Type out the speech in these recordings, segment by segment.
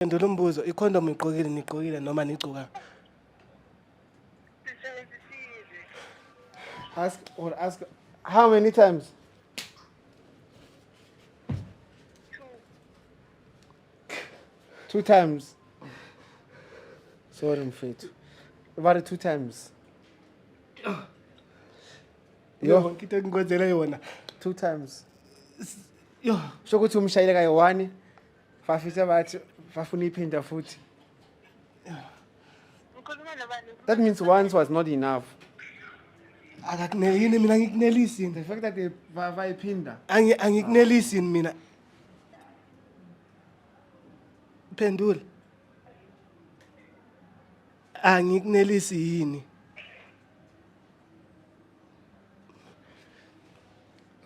Phendula umbuzo, ikhondomu igqokile nigqokile noma nigcoka? Ask or ask how many times? Two times. Sorry mfethu. About two times. Yo, ngithe ngikwenzele yona. Two times. Yo, Sho ukuthi umshayele kayi one Bafisa bathi bafuna iphinda futhi. Ngikhuluma nobani? That means once was not enough. akakuneli yini mina ngikunelisi yini The fact that they ba- bayiphinda. Angi- angikunelisi yini mina phendula angikunelisi yini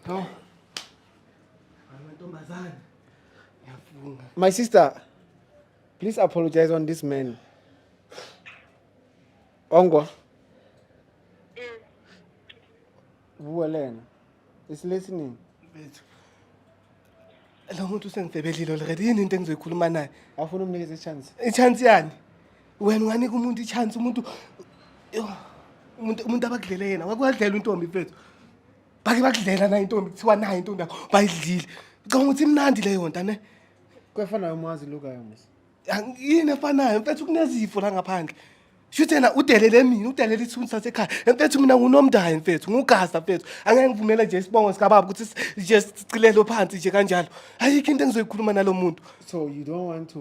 No. My sister, please apologize on this man. Ongwa. Vuwa lena. It's listening. Bethu. Lo muntu usengibhebelile already yini into engizoyikhuluma naye? Afuna umnikeza i-chance. I-chance yani? Wena unganika umuntu i-chance umuntu Yo, umuntu umuntu abakudlele yena. Wakwadlela untombi mfethu. bake bakudlela nayo intombi kuthiwa nayo intombi yakho bayidlile ngicabanga ukuthi imnandi leyo nto ne kwefanayo umazi lukayo musa yini efanayo mfethu kunezifo la ngaphandle shuthi yena udelele mina udelele isithunzi sasekhaya mfethu mina ngunomndayo mfethu ngugasa mfethu angeke ngivumele nje isibongo sikababa ukuthi si- nje sicilelwe phansi nje kanjalo ayikho into engizoyikhuluma nalo muntu so you don't want to